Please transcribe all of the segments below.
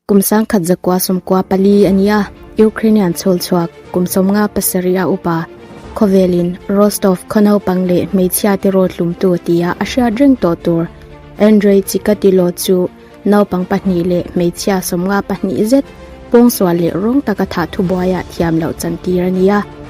Kum sangkhat zakua sawmkua pali a ni a, Ukrainian chhawlchhuak kum sawmnga pasarih a upa khawvelin Rostov khaw naupang leh hmeichhia te rawt hlumtu tia a hriat reng tawh tur Andrei Chikatilo chu naupang pahnih leh hmeichhia sawmnga pahnih zet pawngsual leh rawng taka thah thubuaiah thiam loh chantir a ni a.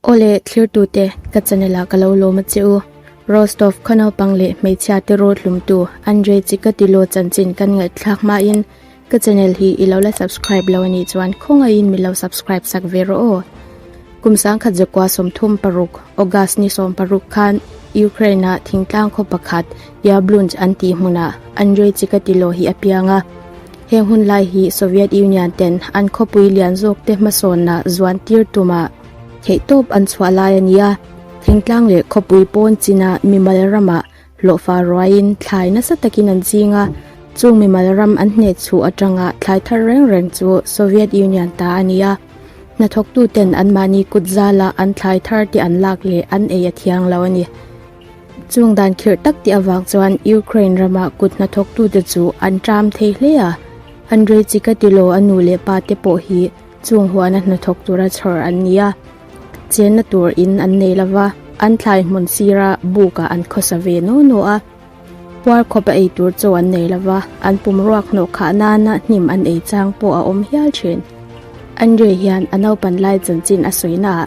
Aw le, thlirtute, ka chanela ka lo lawm a che u. Rostov khaw naupang leh hmeichhia te raw hlumtu Andrey chi ka ti law chanchin kan ngaihthlak hmain ka channel hi i lo la subscribe lo a nih chuan khawngaihin min lo subscribe sak ve rawh aw. Kum sangkhat zakua sawmthum paruk, August ni sawm paruk, khan Ukraine ah thingtlang khaw pakhat Yablunch an tih hmunah Andrey chi ka ti law hi a piang a. He hmunlai hi Soviet Union ten an khawpui lian zawk te hmasawnna zuan tir tumah, theih tawp an chhuah lai a nia. Thingtlang leh khawpui pawn china mimal rama hlawhfa ruaiin thlai nasa takin an zing a. Chung mimal ram an hnehchuh atanga thlai thar reng reng chu Soviet Union ta a nia. Hnathawktu ten anmahni kut zala an thlai thar te an lak leh an ei a thiang lo a ni. Chung dan khirh tak tih avang chuan Ukraine rama kut hnathawktute chu an ṭam thei hle a. Andrei Chikatilo a nu leh pa te pawh hi Chung huana hnathawk tura chhawr an ni a, chenna tur in an nei lo va, an thlai hmun sira bukah an khawsa ve naw naw a, puar khawp a ei tur chaw an nei lo va, an pum ruak hnawh khah nana hnim an ei chang pawh a awm hial thin. Andrei hian a naupan lai chanchin a sawina ah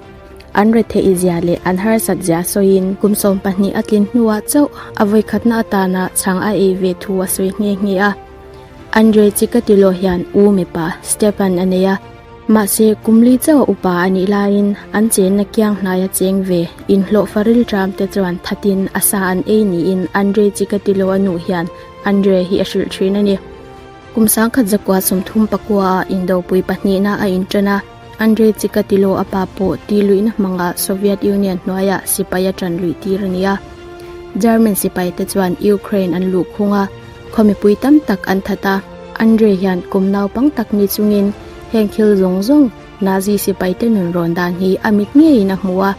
an retheih izia leh an harsat zia sawiin, kum sawm pahnih a tlin hnuah chauh a vawikhatna atana chhang a ei ve thu a sawi nghe nghe a, Andre chi ka ti lawh hian u mipa Stefan a nei a, mahse kumli chauh upa a nih laiin an chenna kiang hnai a cheng ve. Inhlawhfa rilṭamte chuan thatin a sa an ei niin Andre chi ka ti lawh a nu hian Andre hi a hrilh ṭhin a ni. Kum sangkhat zakua sum thum pakua ah indopui pahnihna a inṭan a. Andrei Chikatilo a pa pawh tih luihna hmangah Soviet Union hnuaiah sipai a ṭan luih tir a ni a. German sipaite chuan Ukraine an luh khung a, khawmipui tam tak an that a. Andrei hian kum naupang tak ni chungin heng thil zawng zawng Nazi sipaite nun rawn dan hi a mit ngeiin a hmu a.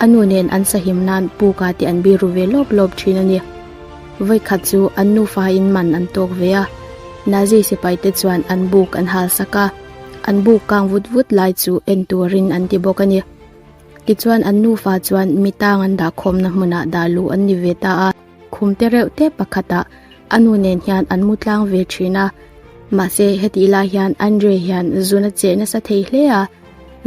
A nu nen an sahim nan Puka te an biru ve lawp lawp ṭhin a ni. Vawikhat chu an nufa in man an tawk ve a, Nazi sipaite chuan an buk an halsak a. An buk kang vut vut lai chu en turin an ti bawk a ni. Tichuan an nufa chuan mi tang an dah khawmna hmunah dah luh an ni ve ta a. Khum te reuh te pakhatah a nu nen hian an mu tlang ve thin a. Mahse hetih lai hian Andre hian zun a cheh nasa thei hle a.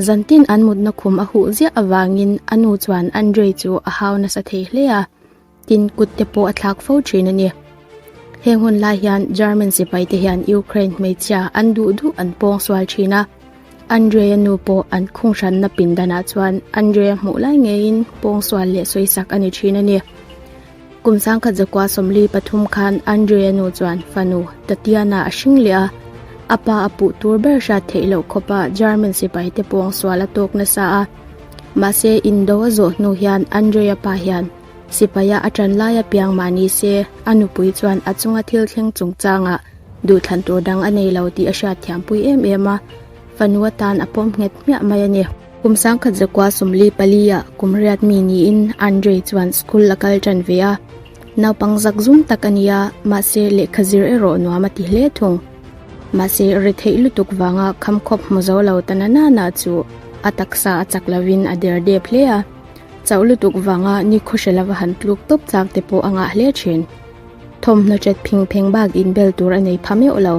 Zan tin an mutna khum a huh ziah avangin a nu chuan Andre chu a hau nasa thei hle a. tin kut te pawh a thlak fo thin a ni. Heng hun lai hian German sipai te hian Ukraine hmeichhia an duh duh an pawng sual thin a, Andrei-a nu pawh an khunghranna pindanah chuan Andrei-a hmuh lai ngeiin pawng sual leh sawi sak a ni thin a ni. Kum sangkhat zakua sawmli pathum khan Andrei-a nu chuan fanu Tatyana a hring leh a, a pa a puh tur ber hriat theih loh khawpa German sipai te pawng sual a tawk nasa a, Mahse, Indo a zawh hnu hian Andrei-a pa hian sipaia a ṭan lai a piang mah ni se, a nupui chuan a chunga thil thleng chungchangah duhthlan tur dang a nei lo tih a hriat thiampui em em a. Fanu atan a pawm nghet hmiah mai a ni. Kum sangkhat zakua sawmli palia kum riat mi niin Andrei chuan school a kal ṭan ve a. Naupang zak zum tak a nia, mahse lehkha zir erawh nuam a ti hle thung. Mahse, ri theih lutuk vanga kham khawp hmu zo lo ta na nana chu a taksa a chak lovin a der dep hle a. Chauh lutuk vanga ni khaw hre lova han tluk tawp tlak te pawh a ngah hle thin. Thawmhnaw ṭet phing pheng bak in bel tur a nei pha meuh lo.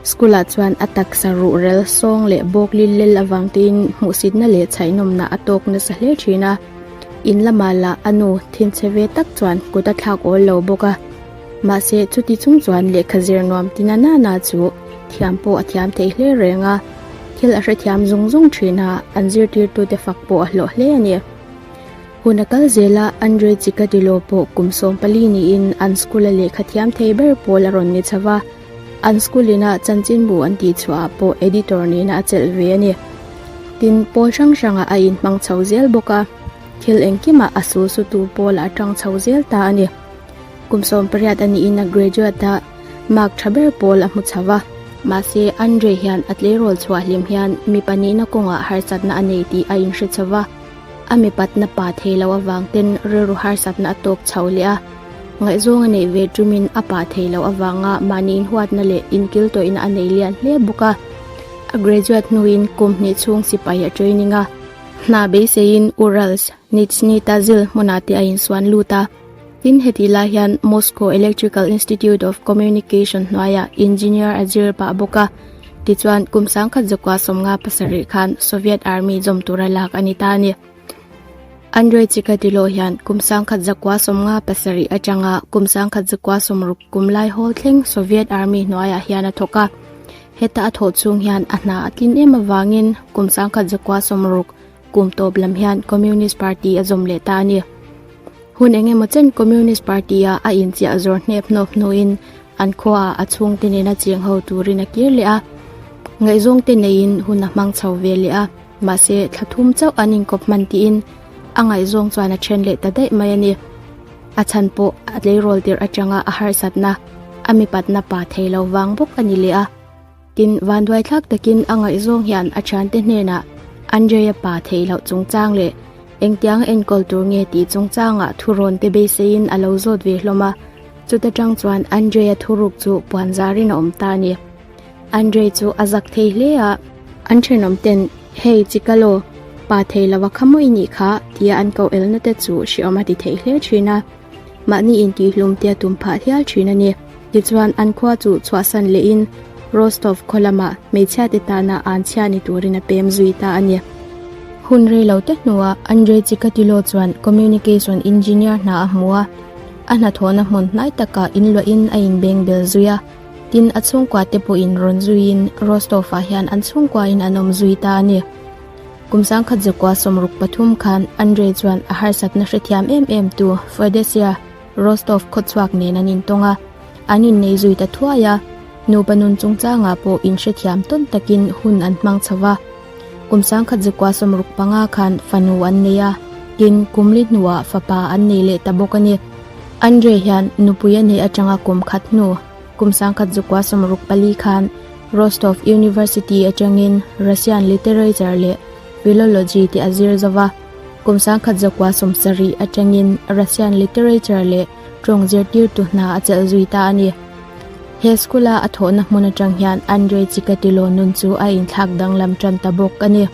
School-ah chuan a taksa ruhrel, sawng leh bawk lil lel avang tein hmuhsitna leh chhaihnawmna a tawk nasa hle thin a. In lama lah a nu Thinchhe ve tak chuan kut a thlak awl lo bawk a. Mahse, chuti chung chuan lehkha zir nuam ti na nana chu thiam pawh a thiam thei hle reng a, thil a hrethiam zawng zawng thina an zirtirtute fak pawh a hlawh hle a ni. Hun a kal zela Andrei Chikatilo pawh kum sawm pali niin an school-a lehkha thiam thei ber pawl a rawn ni chho va, an school ina chanchinbu an tih chhuahah pawh editor nihna a chelh ve a ni. Tin, pawl hrang hrangah a inhmang chho zel bawk a, thil engkimah a sulsutu pawla a tang chho zel ta a ni. Kum sawm pariat a niin a graduate a mark tha ber pawl a hmu chho va. Mahse, Andre hian a tleirawl chhuah hlim hian mipa nihna kawngah harsatna a nei tih a inhre chho va. A mipatna pa thei loh avang ten rilru harsatna a tawk chho leh a. Ngaihzawng a neih ve tumin a pa thei loh avanga mahni inhuatna leh inkiltawihna a nei lian hle bawk a. A graduate hnuin kum hnih chhung sipai a training a. Hna beiseiin Urals Nitshnyi ta zil hmunah te a insuan lut a. Tin heti lai hian Moscow Electrical Institute of Communication hnuaia engineer a zir pah bawk a. Tichuan, kum sangkhat zawkah sawmnga pasarih khan Soviet Army zawm tur a lak a ni ta a ni. Andrei Chikatilo hian kum sangkhat zakua sawmnga pasarih atanga kum sangkhat zakua sawmruk kum lai hawl thleng Soviet Army hnuaiah hian a thawk a. Heta a thawh chhung hian a hna a tlin em avangin kum sangkhat zakua sawmruk Kum tawp lam hian Communist Party a zawm leh ta a ni. Hun eng emaw chen Communist Party a a inchiah zawr hnep hnawp hnuin an khua a chhung te nen a cheng ho turin a kir leh a. Ngaihzawng te neiin hun a hmang chho ve leh a, mahse thla thum chauh an inkawp hman tiin a ngaihzawng chuan a then leh ta daih mai a ni. A chhan pawh a tleirawl tirh atanga a harsatna, a mipatna pa thei lo vang bawk a ni leh a. Tin, vanduai thlak takin a ngaihzawng hian a thiante hnenah Andreia pa theih loh chungchang leh engtiang a enkawl tur nge tih chungchangah thurawnte beiseiin a lo zawt ve hlawm a. Chuta tang chuan Andreia thuruk chu puanzarin a awm ta a ni. Andrei chu a zak thei hle a. An thenawm ten, Hei, chikal aw, pa theih lova kha mawi nih kha, tia an koh elnate chu hriawm a ti theih hle thin a. mahni intihhlum te a tum phah hial thin a ni. Tichuan, an khua chu chhuahsan lehin Rostov khaw lama hmeichhia te tana an chhia ni turin a pem zui ta a ni. Hun rei lo te hnuah Andrei Chikatilo chuan Communication Engineer hna a hmu a, a hnathawhna hmun hnai taka inluahin a inbeng bel zui a, tin a chhungkua te pawhin rawn zuiin Rostov-ah hian an chhungkuain an awm zui ta a ni. Kum sangkhat zakua sawmruk pathum khan Andrei chuan a harsatna hrethiam em em tu Feodesia Rostov khawchhuak nen an intawng a, an innei zui ta thuai a, nupa nun chungchangah pawh inhrethiam tawn takin hun an hmang chho va. Kum sangkhat zakua sawmruk panga khan fanu an nei a, tin, kum li hnuah fapa an nei leh ta bawk a ni. Andrei hian nupui a neih atanga kum khat hnu, Kum sangkhat Zukua Samruk pali khan Rostov University atangin Russian Literature leh Philology tih a zir zo va, kum sangkhat Zukua Sumsarih atangin Russian Literature leh Tawng zirtirtu hna a chelh zui ta a ni. He school-a a thawhna hmun atang hian Andrei Chikatilo nun chu a inthlak danglam tan ta bawk a ni.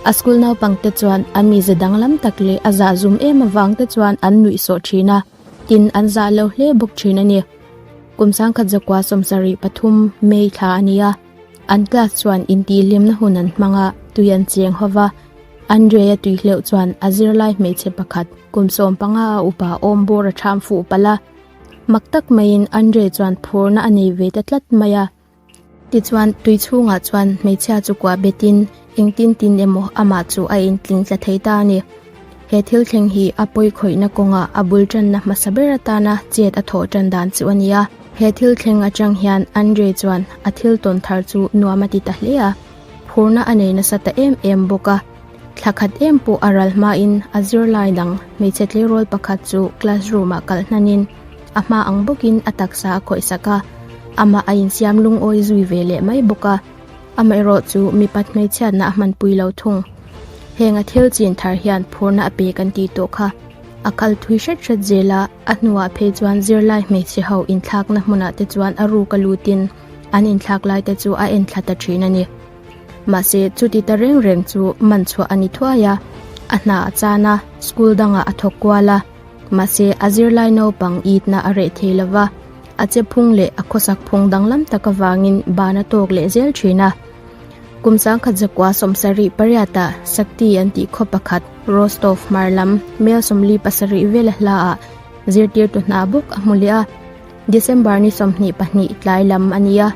A school naupangte chuan a mize danglam tak leh a zahzum em avangte chuan an nuihsawh thin a, Tin an zah lo hle bawk thin a ni. Kum sangkhat zakua sawmsarih pathum May thla a ni a, an class chuan intihhlimna hun an hmang a, tui an cheng ho va. Andrea tui hleuh chuan a zirlai hmeichhe pakhat kum sawm panga a upa awm bur a ṭham fuh palh a. Mak tak maiin Andrea chuan phurna a nei ve ta tlat mai a. Tichuan, tui chhungah chuan hmeichhia chu kuah betin engtin tin emaw amah chu a intling tla thei ta a ni. He thil thleng hi a pawi khawihna kawnga a bul tanna hmasa ber atana chet a thawh tan dan chu a ni a. He thil thleng atang hian Andrei chuan a thil tawn thar chu nuam a ti ta hle a, phurna a nei nasa ta em em bawk a. Thla khat em pawh a ral hmain a zirlai dang hmeichhe tleirawl pakhat chu classroom-ah kal hnanin a hma ang bawkin a taksa a khawihsak a, amah a insiam lungawi zui ve leh mai bawk a. Amaherawh chu mipa hmeichhiatna a hmanpui lo thung. Heng a thil chin thar hian phurna a pe kan tih tawh kha. A kal thui hret hret zela a hnuah phei chuan zirlai hmeichhe ho inthlakna hmunah te chuan a ruk a lutin an inthlak lai te chu a en thla ta thin a ni. Mahse, chuti ta reng reng chu man chhuah a ni thuai a, a hna a chan a, school dangah a thawk kual a. Mahse, a zirlai naupang itna a reh thei lo va, a che phung leh a khawsak phung danglam tak avangin ban a tawk leh zel thin a. Kum sangkhat zakua sawmsarih pariata Sakti an tih khaw pakhat Rostov hmar lam Melsomli pasarih vel a hla ah zirtirtu hna bawk a hmu leh a. December ni sawmhnih pahnih tlai lam a ni a,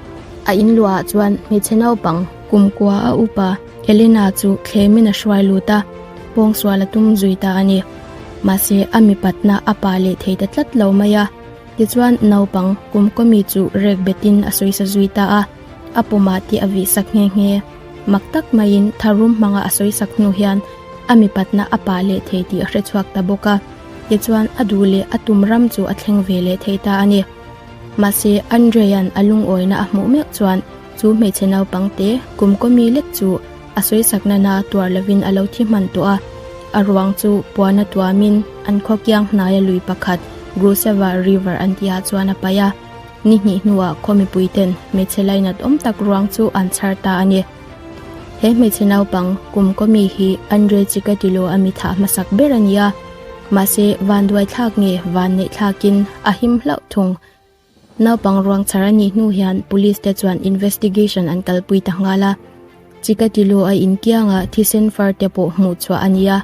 a in luahah chuan hmeichhe naupang kumkua a upa Elena chu thlemin a hruai lut a, pawngsual a tum zui ta a ni. Mahse a mipatna a pa leh thei ta tlat lo mai a, tichuan naupang kumkua mi chu rek betin a sawisa zui ta a, a pawmah tih a vihsak nghe nghe. Mak tak maiin tharum hmanga a sawisak hnu hian a mipatna a pa leh thei tih a hre chhuak ta bawk a. Tichuan, a duh leh a tum ram chu a thleng ve leh thei ta a ni. Mahse, Andrea'n a lungawina a hmuh mek chuan chu hmeichhe naupang te kum kawmi lek chu a sawisak nana tuar lovin a lo thi hman tawh a. A ruang chu puana tuamin an khawkiang hnaia lui pakhat Grusava River an tihah chuan a paih a. Ni hnih hnuah khaw mipuiten hmeichhe lainat awm tak ruang chu an chhar ta a ni. He hmeichhe naupang kum kawmi hi an rel chi ka ti lo a mi thah hmasak ber a nia. Mahse vanduai thlak nge vanneih thlakin a him hlauh thung. Naupang ruangchhar a nih hnu hian police te chuan investigation an kalpui ta nghal a. Chi ka ti lo a inkianga thisen far te pawh hmuh chhuah a nia.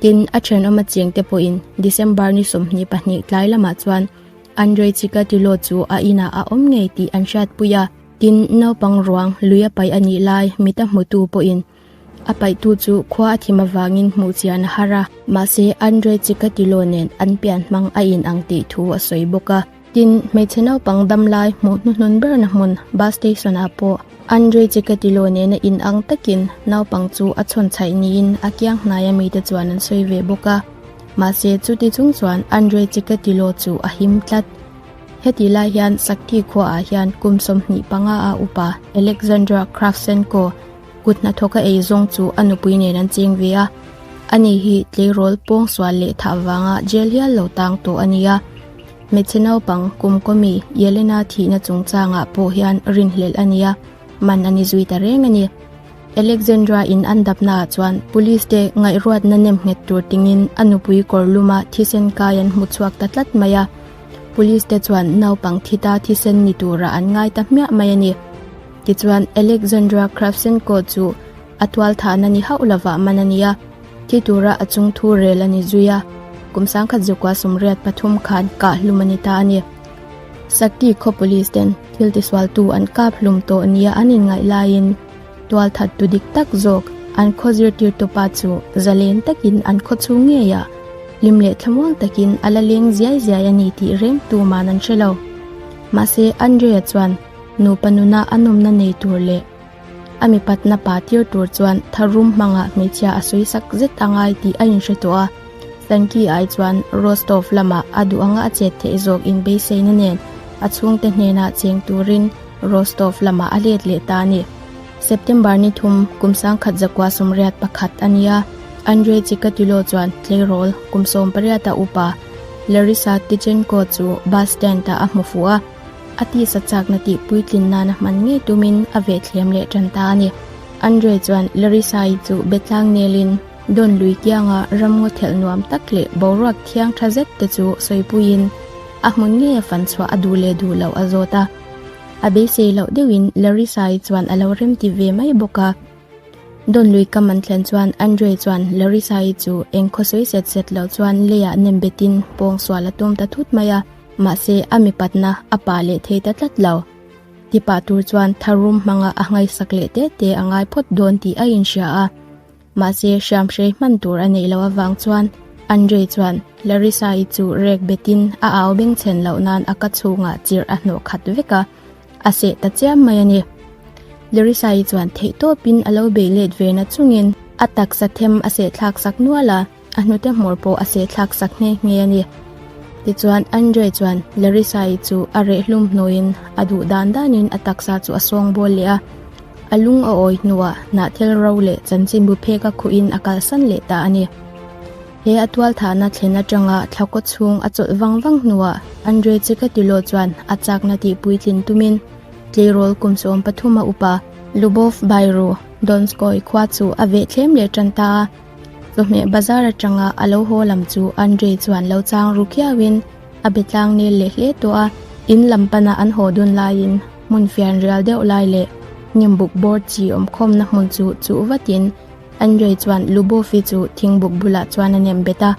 Tin a thenawm a chiang te pawhin December ni sawmhnih pahnih tlai lamah chuan an rel chi ka ti lo chu a inah a awm ngei tih an hriatpui a. Tin, naupang ruang lui a paih a nih lai mit a hmutu pawhin a paihtu chu khua a thim avangin hmuh chian a har a. Mahse, Andrei Chikatilo nen an pian hmang a inang tih thu a sawi bawk a. Tin, hmeichhe naupang dam lai hmuh hnuhnun berna hmun bus station-ah pawh Andrei Chikatilo nena inang takin naupang chu a chhawnchhaih niin a kiang hnaia mite chuan an sawi ve bawk a. Mahse, chuti chung chuan Andrei Chikatilo chu a him tlat. Heti lai hian Sakti khuaah hian kum sawmhnih panga a upa Alexandra Kravchenko kut hnathawka ei zawng chu a nupui nen an cheng ve a. Ani hi tleirawl pawngsual leh thah avanga jail hial lo tang tawh a nia. Hmeichhe naupang kum kawmi Yelena thihna chungchangah pawh hian rinhlelh a nia, man a ni zui ta reng a ni. Alexandra in an dapnaah chuan police te ngaihruatna nem nghet tur tingin a nupui kawrluma thisen kai an hmu chhuak ta tlat mai a. Police te chuan naupang thita thisen ni tura an ngai ta hmiah mai a ni. Tichuan Alexandra Kravchenko chu a tual thahna ni hauh lova man a ni a, thi tura a chung thu rel a ni zui a, kum sangkhat zukua sumriat pathum khan kah hlum a ni ta a ni. Sakti khaw police ten thiltisualtu an kap hlum tawh nia an inngaih laiin, Tual that tu dik tak zawk an khaw zirtir tawpa chu zalen takin an khaw chhung ngei a, hlim leh thlamuang takin a la leng ziai ziai a ni tih reng tuman an hre lo. Mahse, Andrea chuan nupa nuna a nawmna nei tur leh a mi patna pa tir tur chuan tha rum hmangah hmeichhia a sawi sak zet a ngai tih a inhre tawh a. Stanki ai chuan Rostov lamah a duh anga a chet theih zawk inbeisaina nen a chhungte hnenah cheng turin, Rostov lamah a let leh ta a ni. September ni thum, kum sangkhat zakua sum riat pakhat a nia, Andrei Chikatilo chuan tleirawl kum sawm pariata upa Larisa Tichenko chu bus stand ah a hmu fuh a, a tisa chakna tih puitlin nana hman ngei tumin a ve thlem leh tan ta a ni. Andrei chuan Larisa-i chu betlang nelin dawn lui kianga ramngaw thelh nuam tak leh boruak thiang tha zet te chu sawipuiin a hmun nge fan chhuah a duh leh duh loh a zawt a. A beisei loh deuhin Larissa-i chuan a lo remti ve mai bawk a. Dawn lui kam an thlen chuan Andre chuan Larissa-i chu eng khawsawi set set loh chuan leiah nem betin pawng sual a tum ta thut mai a, mahse a mi patna a pah leh thei ta tlat lo. Tipah tur chuan tharum hmanga a hngai sak leh tete a ngai phawt dawn tih a inhria a. Mahse, hriam hrei hman tur a neih loh avang chuan Andrei chuan Larissa-i chu rek betin a au beng chhen loh nan a ka chhungah chirh a hnawh khat vek a, a seh ta chiam mai a ni. Larissa-i chuan theihtawpin a lo bei let ve nachungin a taksa them a sehthlak sak nual a. A hnute hmawr pawh a sehthlak sak nghe nghe a ni. Tichuan, Andrei chuan Larissa-i chu a rehhlum hnuin a duh dan danin a taksa chu a sawng bawl leh a. A lung a awi hnuah hnah thel ro leh chanchin buphek a khuhin a kalsan leh ta a ni. He a tualthahna thlen atanga thlakaw chhung a chawlh vang vang hnuah Andrei Chikatilo chuan a chakna tih puitlin tumin tleirawl kum sawm pathum a up a. Lubov Bairu, Donskoy, khua chu a veh thlem leh ṭan ta a. Chawhmeh bazar atanga a lo haw lam chu Andrei chuan lo chang ru khiauin a be tlang nel leh hle tawh a. In lam pana an haw dun laiin hmun fian rial deuh lai leh hnim buk bawr chi awm khawmna hmun chu chuh vatin Andrei chuan Lubovi chu thing buk bulah chuan a nem bet a.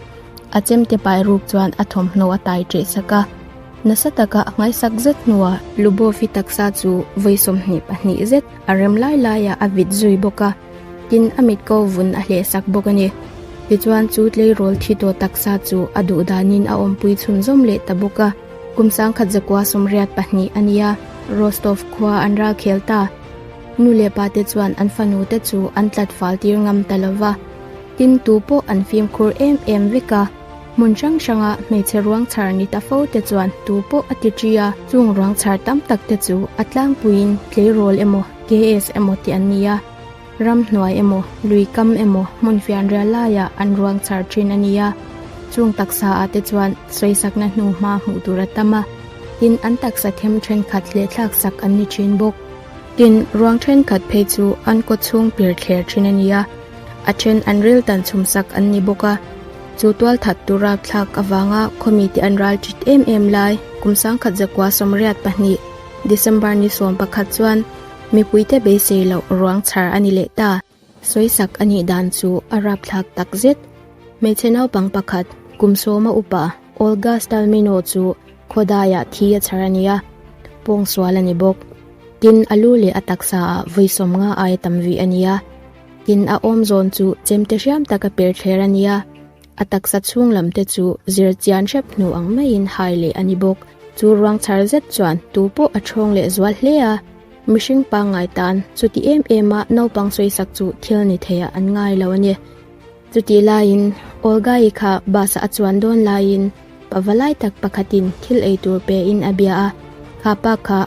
A chem te pai ruk chuan a thawmhnaw a tai teh sak a. Nasa taka a ngaisak zet hnuah Lubovi taksa chu vawi sawmhnih pahnih zet a rem lai laiah a vit zui bawk a. Tin, a mit ko vun a hleh sak bawk a ni. Tichuan, chu tleirawl thi tawh taksa chu a duh danin a awmpui chhun zawm leh ta bawk a. Kum sangkhat zakua sawmriat pahnih a nia Rostov khua an ral khel ta. Nu leh pa te chuan an fanu te chu an tlat fal tir ngam ta lo va. Tin, tu pawh an fimkhur em em vek a. Hmun hrang hranga hmeichhe ruangchhar ni ta fo te chuan tu pawh a ti ṭi a, chung ruangchhar tam tak te chu a tlangpuiin tleirawl emaw, gas emaw tih an ni a, ramhnuai emaw, lui kam emaw hmun fianrial laiah an ruangchhar ṭhin a ni a, chung taksa ah te chuan sawisakna hnu hma hmuh tur a tam a, tin an taksa them ṭhenkhat leh thlak sak an ni ṭhin bawk. Tin, ruang ṭhenkhat phei chu an kawchhung pirthler ṭhin a ni a. a then an riltan chhumsak an ni bawk a, chu tualthat tur a thlak avanga khawmi te an ral ṭit em em lai. Kum sangkhat zakua sawmriat pahnih, December ni sawm pakhat chuan mipuite beisei loh ruang chhar a ni leh ta. Sawisak a nih dan chu a rap thlak tak zet. Hmeichhe naupang pakhat, kum sawma upa Olga Stalmino chu khawdaiah thi a chhar a ni a, pawngsual a ni bawk. Tin, a lu leh a taksa ah vawisawm nga ai tam vi a ni a. Tin a awm zawn chu chemte hriam tak a per thler a nia. A taksa chhung lam te chu zir chian hrep hnu ang maiin hai leh a ni bawk. Chu ruang chhar zet chuan tu pawh a thawng leh zual hle a. Mihring pangngai tan chuti em em a naupang sawisak chu thil ni theih ah an ngai lo a ni. Chutih laiin, Olga-i kha bus-ah a chuan dawn laiin pava lai tak pakhatin thil ei tur pein a bia a, Kha pa kha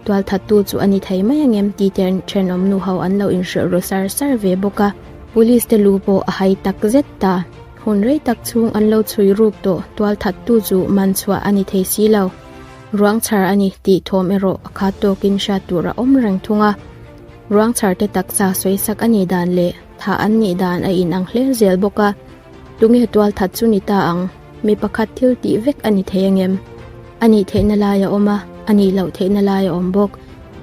tual thattu chu a ni thei mai ang em? tite thenawm nuho an lo inhrilh ru sar sar ve bawk a. Police-te lu pawh a hai tak zet ta, hun rei tak chhung an lo chhui ruk tawh tual thattu chu man chhuah a ni thei si lo, ruang chhar a ni tih thawm erawh a khat tawkin hriat tur a awm reng thung a, ruang chharte taksa sawisak a nih dan leh. Thah an nih dan a inang hle zel bawk a, Tunge tual that chu ni ta ang? Mi pakhat thil tih vek a ni thei angem? A nih theihna lai a awm a, a nih loh theihna lai a awm bawk.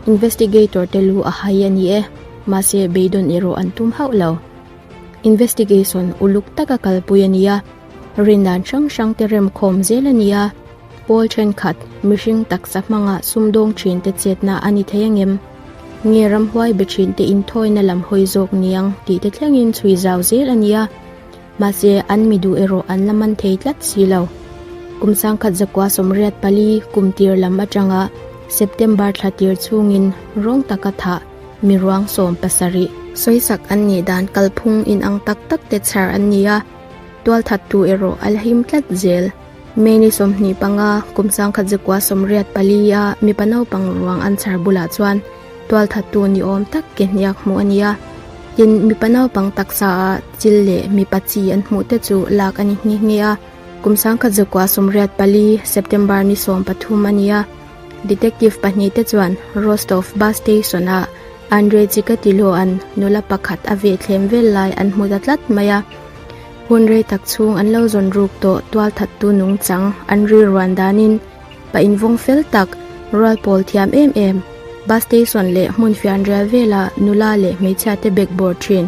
Investigator te lu a hai a ni e, mahse beidawn erawh an tum hauh lo. Investigation uluk taka kalpui a ni a, rindan hrang hrang te rem khawm zel a ni a, Paul thenkhat mihring taksa hmanga sumdawng thin te chetna a ni thei angem? Nge ram huai be thin te in thawina lam hawi zawk niang tih te thlengin chhui zau zel a nia. Mahse, an mi duh erawh an la man thei tlat si lo. Kum sangkhat zakua sawmriat pali kum tir lam atanga September thla tir chungin rawng taka thah mi ruang sawm pasarih, sawisak an nih dan kalphung inang tak tak te chhar an ni a, tualthattu erawh a la him tlat zel. Many sawmhnih panga, kum sangkhat zikua sawmriat pali a mipa naupang ruang an chhar bulah chuan tualthattu ni awm tak kehniak hmuh a nia. Tin, mipa naupang taksa a chil leh mipa chi an hmuh te chu lak a ni nghe nghe a. Kum sangkhat zikua sawmriat pali, September ni sawm pathum a nia. Detective pahnih te chuan Rostov bus station ah Andrey Chikatilovan nula pakhat a ve thlem vel lai an hmu ta tlat mai a. Hun rei tak chhung an lo zawn ruk tawh tual that tu nung chang an rilruan danin pa invawng fel tak, rual pawl thiam em em, bus station leh hmun fianrial vela nula leh hmeichhia te bag bawr thin,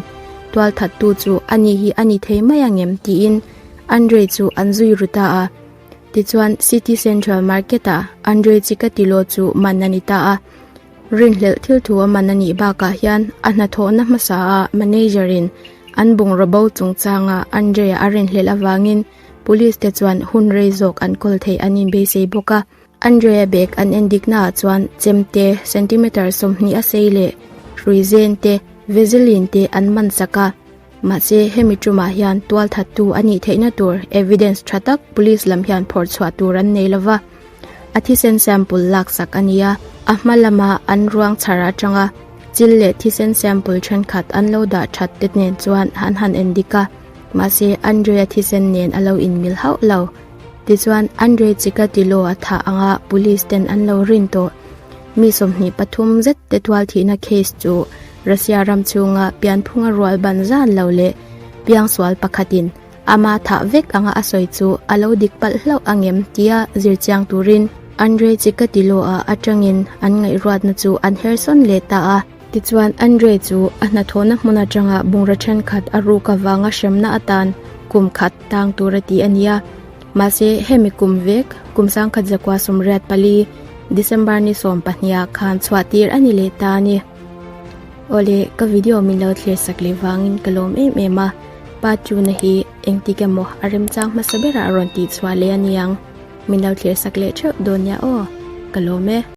tual that tu chu a ni hi a ni thei mai angem tiin an rei chu an zui ru ta a. Tichuan City Central Market-ah an rei chi ka ti law chu man a ni ta a. Rinhlelh thil thu a man a nih bakah hian a hnathawhna hmasaah manager-in an bungraw-bo chungchanga Andrey-a a rinhlelh avangin police te chuan hun rei zawk an kawl theih an inbeisei bawk a. Andrey-a bag an en diknaah chuan chem te, centimeter sawmhnih a sei leh ruizen te, vaseline te an man sak a. Mahse, hemi ṭumah hian tual thattu a nih theihna tur evidence ṭha tak police lam hian phawrh chhuah tur an nei lo va, a thisen sample laksak a nia. A hma lama an ruang chhar aṭanga chil leh thisen sample ṭhenkhat an lo dah ṭhat te nen chuan an han en dik a, mahse Andrei-a thisen nen a lo inmil hauh lo. Tichuan, Andrei chika ti law a thah anga police ten an lo rin tawh. Mi sawmhnih pathum zet te tual thihna case chu. Russia ram chunga pianphunga rual ban zan lo leh piang sual pakhatin ama thah vek anga a sawi chu a lo dik palh hlauh a ngem tia zir chiang turin Andrei Chikatilo-a atangin an ngaihruatna chu an her sawn leh ta a. Tichuan Andrei chu a hnathawhna hmun atanga bungra thenkhat a ruk avanga hremna atan kum khat tang tur a ti a nia. Mahse hemi kum vek kum sangkhat zakua sumriat pali December ni sawmpahniha khan chhuah tir a ni leh ta a ni. Awle ka video min lo thlir sak leh vangin ka lawm em em a, pa tuna hi engtik emaw a remchang hmasa berah a rawn tihchhuah leh aniang, min lo thlir sak leh theuh dawn nia aw, ka lawm e.